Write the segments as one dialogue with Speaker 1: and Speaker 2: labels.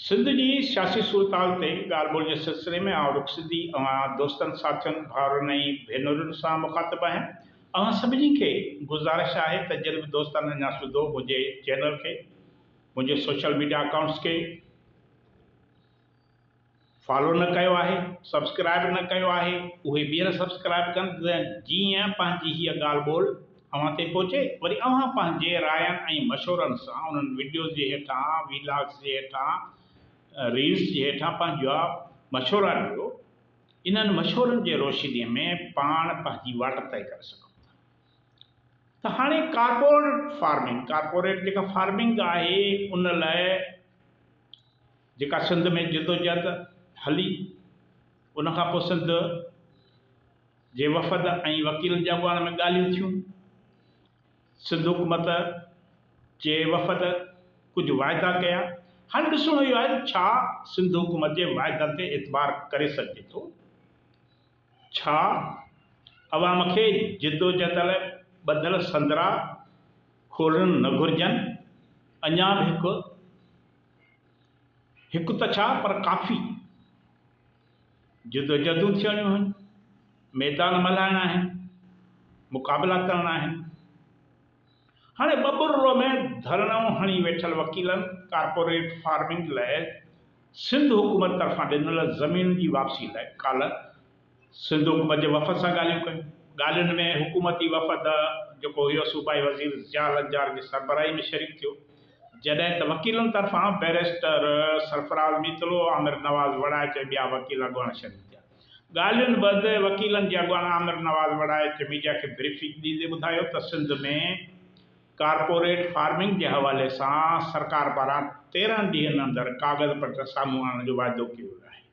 Speaker 1: سنڌ جي سياسي صورتحال تي ڳالهه ٻولهه جي سلسلي ۾ آئون رخ سڌي اوهان دوستن، ساٿين، ڀائرن ۽ ڀينرن سان مخاطب آهيان. اوهان سڀني کي گذارش آهي ته جن به دوستن اڃا سڌو منهنجي چينل کي، منهنجي سوشل ميڊيا اڪائونٽس کي، فالو نه ڪيو آهي سبسڪرائب نه ڪيو آهي اهي ٻيهر سبسڪرائب ڪن ته جيئن پنهنجي هيء ڳالهه ٻولهه اوهان تائين پهچي وري اوهان پنهنجي راين ۽ مشورن سان انهن وڊيوز جي هيٺان ويلاگس جي هيٺان ريلس جي هيٺان پنهنجا مشورا ڏيو انهن مشورن جي روشني ۾ پاڻ پنهنجي واٽ طئي ڪري سگهون ٿا ته هاڻي ڪارپورٽ فارمنگ ڪارپوريٽ جيڪا فارمنگ آهي ان لاء جيڪا سنڌ ۾ جدوجهد هلي، ان کان پوء سنڌ جي وفد ۽ وڪيلن جي اڳواڻ ۾ ڳالهيون ٿيون. سنڌ حڪومت جي وفد ڪجهه واعدا ڪيا. هاڻي ڏسڻو اهو آهي ته ڇا سنڌ حڪومت جي واعدن تي اعتبار ڪري سگهجي ٿو؟ ڇا اوهان مون کي جدوجهد لاء ٻڌل سندرا کولڻ نه گهرجن؟ اڃا به هڪ، هڪ ته ڇا پر ڪافي، جدوجهدون ٿيڻيون آهن، ميدان ملهائڻا آهن، مقابلا ڪرڻا آهن. هاڻي ٻٻرڙو ۾ ڌرڻو هڻي ويٺل وڪيلن ڪارپوريٽ فارمنگ لاء سنڌ حڪومت طرفان ڏنل زمين جي واپسي لاء ڪالهه سنڌ حڪومت جي وفد سان ڳالهيون ڪيون. ڳالهين ۾ حڪومتي وفد جيڪو هيو صوبائي وزير ضياء لنجار جي سربراهي ۾ شريڪ ٿيو جڏهن ته وڪيلن طرفان بئريسٽر سرفراز ميتلو، عامر نواز وڙائچ ۽ ٻيا وڪيل اڳواڻ شريڪ ٿيا. ڳالهين بعد وڪيلن جي اڳواڻ عامر نواز وڙا ايڇ ميڊيا کي بريفنگ ڏيندي ٻڌايو ته سنڌ ۾ ڪارپوريٽ فارمنگ جي حوالي سان سرڪار پاران تيرهن ڏينهن اندر ڪاغذ پٽر سامهون آڻڻ جو واعدو ڪيو ويو آهي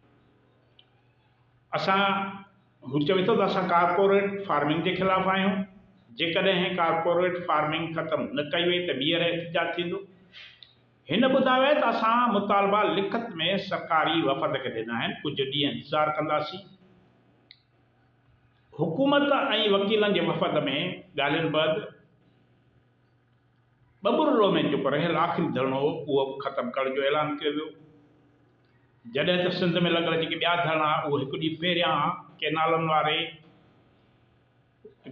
Speaker 1: اسان هو چوي ٿو ته اسان ڪارپوريٽ فارمنگ جي خلاف آهيون جيڪڏهن ڪارپوريٽ فارمنگ ختم نه ڪئي وئي ته ٻيهر احتجاج ٿيندو. هن ٻڌايو ته اسان مطالبا لکت ۾ سرڪاري وفد کي ڏنا آهن، ڪجهه ڏينهن انتظار ڪنداسين. حڪومت ۽ وڪيلن جي وفد ۾ ڳالهين بعد ٻٻرڙو ۾ چپ رهيل آخري ڌرڻو هو، اهو به ختم ڪرڻ جو اعلان ڪيو ويو، جڏهن ته سنڌ ۾ لڳل جيڪي ٻيا ڌرڻا اهي هڪ ڏينهن پهريان ڪئنالن واري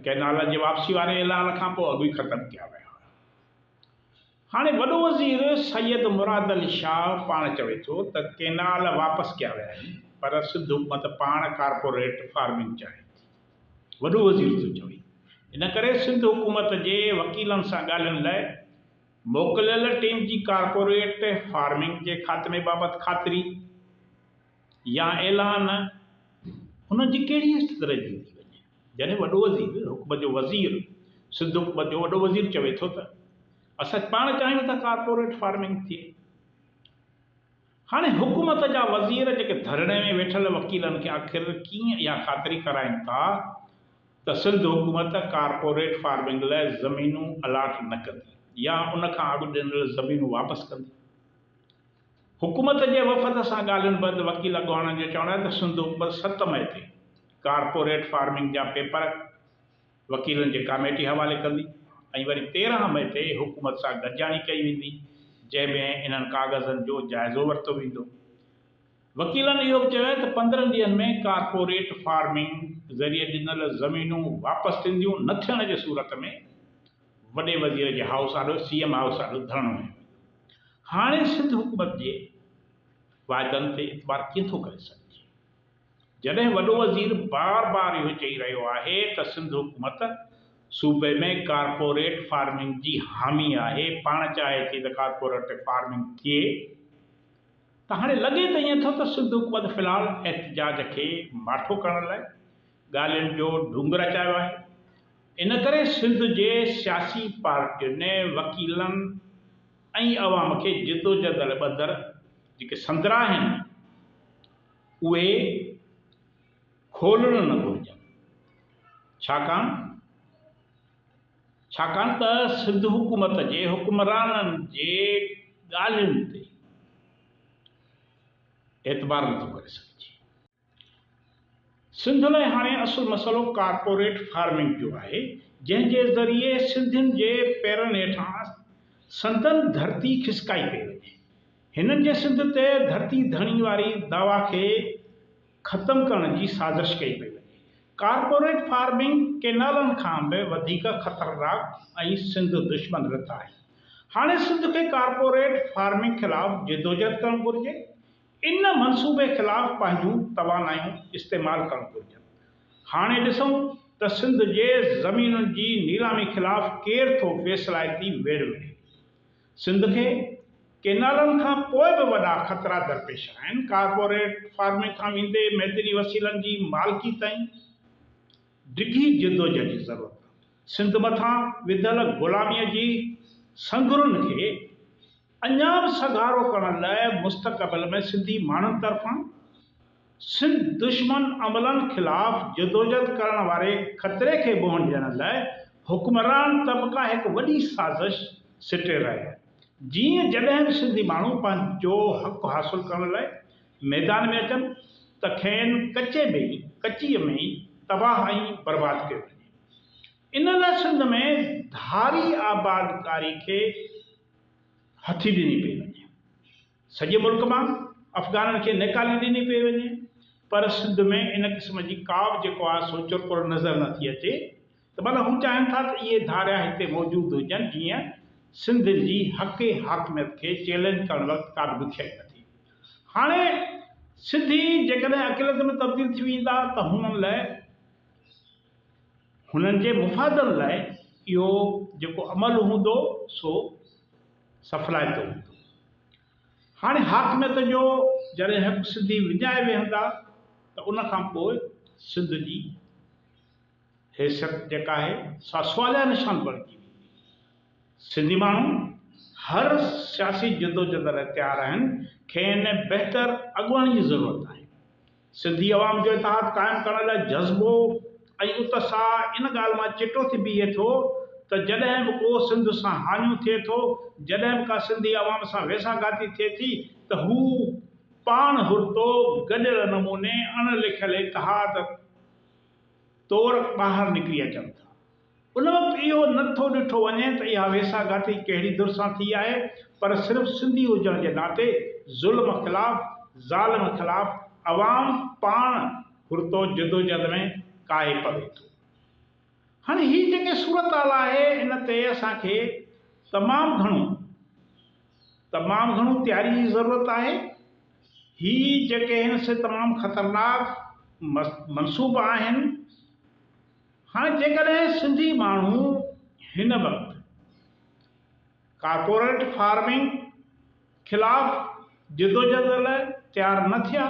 Speaker 1: ڪئنالن جي واپسي واري اعلان کانپوء اڳ ئي ختم ڪيا ويا هئا. هاڻي وڏو وزير سيد مراد علي شاهه پاڻ چوي ٿو ته ڪينال واپس ڪيا ويا آهن پر سنڌ حڪومت پاڻ ڪارپوريٽ فارمنگ چاهي ٿي. وڏو وزير ٿو چوي ان ڪري سنڌ حڪومت جي وڪيلن سان ڳالهين لاء موڪليل ٽيم جي ڪارپوريٽ فارمنگ جي خاتمي بابت خاطري، يا اعلان انهن جي ڪهڙي حيثيت رهجي ٿي وڃي جڏهن وڏو وزير حڪومت جو وزير سنڌ حڪومت جو وڏو وزير چوي ٿو ته اسان پاڻ چاهيون ٿا ڪارپوريٽ فارمنگ ٿئي. هاڻي حڪومت جا وزير جيڪي ڌرڻي ۾ ويٺل وڪيلن کي آخر ڪيئن اها خاطري ڪرائين ٿا ته سنڌ حڪومت ڪارپوريٽ فارمنگ لاء زمينون الاٽ نه ڪندي يا ان کان اڳ ڏنل زمينون واپس ڪندي؟ حڪومت جي وفد سان ڳالهين بعد وڪيل اڳواڻن جو چوڻ آهي ته سنڌ اوپر ست مئي تي ڪارپوريٽ فارمنگ جا پيپر وڪيلن جي ڪاميٽي حوالي ڪندي ۽ وري تيرهن مئي تي حڪومت سان گڏجاڻي ڪئي ويندي جنهن ۾ انهن ڪاغذن جو جائزو ورتو ويندو. وڪيلن اهو به چيو آهي ته پندرهن ڏينهن ۾ ڪارپوريٽ فارمنگ ذريعي ڏنل زمينون واپس ٿينديون نه ٿيڻ جي صورت ۾ وڏي وزير جي هائوس آڏو سي ايم هائوس آڏو ڌرڻو هنيو ويو. هاڻي سنڌ حڪومت جي واعدن تي اعتبار ڪيئن ٿو ڪري سگهجي؟ جڏهن وڏو وزير بار بار اهو چئي رهيو آهي ته سنڌ حڪومت صوبي ۾ ڪارپوريٽ فارمنگ جي حامي آهي، پاڻ چاهي ٿي ته ڪارپوريٽ فارمنگ ٿئي ته هاڻي لڳي ته ائين ٿو ته سنڌ حڪومت في الحال احتجاج کي ماٺو ڪرڻ لاء ڳالهين جو ڍونگ رچايو آهي، ان ڪري سنڌ جي سياسي پارٽين، وڪيلن ۽ عوام کي جدوجهد لاء ٻڌر جيڪي سندرا آهن اهي کولڻ نه گهرجن ڇاڪاڻ ڇاڪاڻ ته سنڌ حڪومت جي حڪمرانن جي ڳالهين تي اعتبار نٿو ڪري سگهجي. سنڌ لاء هاڻي اصل مسئلو ڪارپوريٽ فارمنگ جو آهي، جنهن جي ذريعي سنڌين جي پيرن هيٺان سندن ڌرتي کسڪائي پئي وڃي. هنن جي سنڌ تي ڌرتي ڌڻي واري دعويٰ کي ختم ڪرڻ جي سازش ڪئي پئي وڃي. ڪارپوريٽ فارمنگ ڪينالن کان به وڌيڪ خطرناڪ ۽ سنڌ دشمن رٿ آهي. هاڻي سنڌ کي ڪارپوريٽ فارمنگ خلاف جدوجهد ڪرڻ گهرجي. ان منصوبي خلاف پنهنجون توانايون استعمال ڪرڻ گهرجن. هاڻي ڏسون ته سنڌ جي زمينن جي نيلامي خلاف ڪير ٿو فيصلائتي ويڙهه وڙهي. سنڌ کي ڪينالن کان پوء به وڏا خطرا درپيش آهن، ڪارپوريٽ فارمنگ کان ويندي معدني وسيلن جي مالڪي تائين. ڊگهي جدوجهد جي ضرورت آهي. سنڌ مٿان وڌل غلاميء جي سنگهرن کي. اڃا به سگهارو ڪرڻ لاء مستقبل ۾ سنڌي ماڻهن طرفان سنڌ دشمن عملن خلاف جدوجھد ڪرڻ واري خطري کي منهن ڏيڻ لاء حڪمران طبقا هڪ وڏي سازش سٽي رهيا آهن جيئن جڏهن به سنڌي ماڻهو پنهنجو حق حاصل ڪرڻ لاء ميدان ۾ اچن ته کين ڪچي ۾ ئي ڪچيء ۾ ئي تباهه ۽ برباد ڪيو وڃي ان لاء سنڌ ۾ ڌاري آبادڪاري کي هٿي ڏني پئي وڃي. سڄي ملڪ مان افغانن کي نيڪالي ڏني پئي وڃي پر سنڌ ۾ ان قسم جي ڪا به جيڪو آهي سو چرپر نظر نه ٿي اچي ته معنيٰ هو چاهين ٿا ته اهي ڌاريا هتي موجود هجن جيئن سنڌ جي حقي حاڪميت کي چئلينج ڪرڻ وقت ڪا به ڏکيائي نه ٿئي. هاڻي سنڌي جيڪڏهن اقليت ۾ تبديل ٿي ويندا ته هنن لاء. هنن جي مفادن لاء اهو جيڪو عمل هوندو سو سڦلائتو هوندو. هاڻي حاڪميت جو جڏهن حق سنڌي وڃائي ويهندا ته ان کان پوء سنڌ جي حيثيت جيڪا آهي سا سواليه نشان بڻجي ويندي. سنڌي ماڻهو هر سياسي جدوجھد لاء تيار آهن، کين بهتر اڳواڻي جي ضرورت آهي. سنڌي عوام جو اتحاد قائم ڪرڻ لاء جذبو ۽ اتساهه ان ڳالهه مان چٽو ٿي بيهي ٿو ته جڏهن به ڪو سنڌ سان هاڃون ٿئي ٿو، جڏهن به ڪا سنڌي عوام سان ويساهه گهاتي ٿئي ٿي ته هو پاڻ هرتو گڏيل نموني اڻ لکيل اتحاد طور ٻاهر نڪري اچن ٿا. ان وقت اهو نه ٿو ڏٺو وڃي ته اها ويساهه گهاٽي ڪهڙي ڌر سان ٿي آهي پر صرف سنڌي هجڻ جي ناتي ظلم خلاف ظالم خلاف عوام پاڻ گهرتو جدوجهد ۾ ڪاهي پوي ٿو. هاڻي هي جيڪي صورتحال آهي ان تي اسان کي تمام گهڻو تمام گهڻو تياري جي ضرورت آهي. هي جيڪي هن سي تمام خطرناڪ منصوبا آهن هاڻي جيڪڏهن سنڌي ماڻهو هن وقت ڪارپوريٽ فارمنگ خلاف جدوجهد لاء تيار نه ٿيا،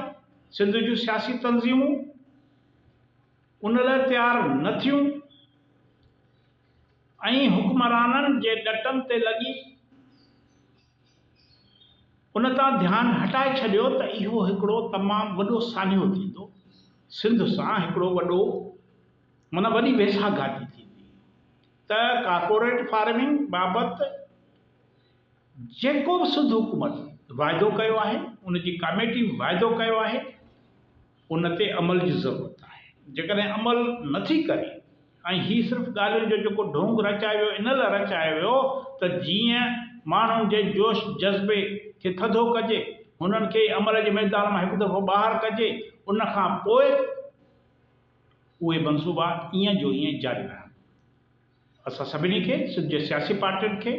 Speaker 1: سنڌ جون سياسي تنظيمون ان لاء تيار نه ٿيون ۽ حڪمرانن جي ڏٽن تي لڳي، ان تان ڌيان هٽائي ڇڏيو ته اهو هڪڙو تمام وڏو سانحو ٿيندو، سنڌ سان هڪڙو وڏو معنيٰ وڏي ويساهه گهاتي ٿيندي ته ڪارپوريٽ فارمنگ بابت جيڪو به سنڌ حڪومت واعدو ڪيو آهي، ان جي ڪاميٽي به واعدو ڪيو آهي، ان تي عمل جي ضرورت آهي. جيڪڏهن عمل نه ٿي ڪري ۽ هي صرف ڳالهين جو جيڪو ڍونگ رچايو ويو ان لاء رچايو ويو ته جيئن ماڻهن جي جوش جذبي کي ٿڌو ڪجي، هنن کي عمل جي ميدان مان هڪ دفعو ٻاهر ڪجي ان کان پوء اهي منصوبا ايئن جو ايئن جاري رهن. اسان سڀني کي، سنڌ جي سياسي پارٽين کي،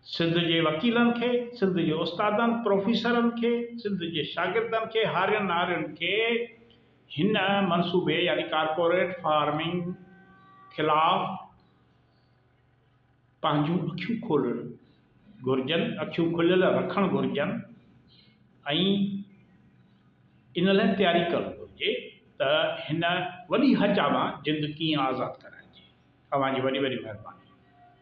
Speaker 1: سنڌ جي وڪيلن کي، سنڌ جي استادن، پروفيسرن کي، سنڌ جي شاگردن کي، هارين نارين کي هن منصوبي يعني ڪارپوريٽ فارمنگ خلاف پنهنجون اکيون کولڻ گهرجن، اکيون کليل رکڻ گهرجن. ۽ ان لاء تياري ڪرڻ گهرجي ته هن وڏي هچ آ مان جند ڪيئن آزاد ڪرائجي. اوهان جي وڏي وڏي مهرباني.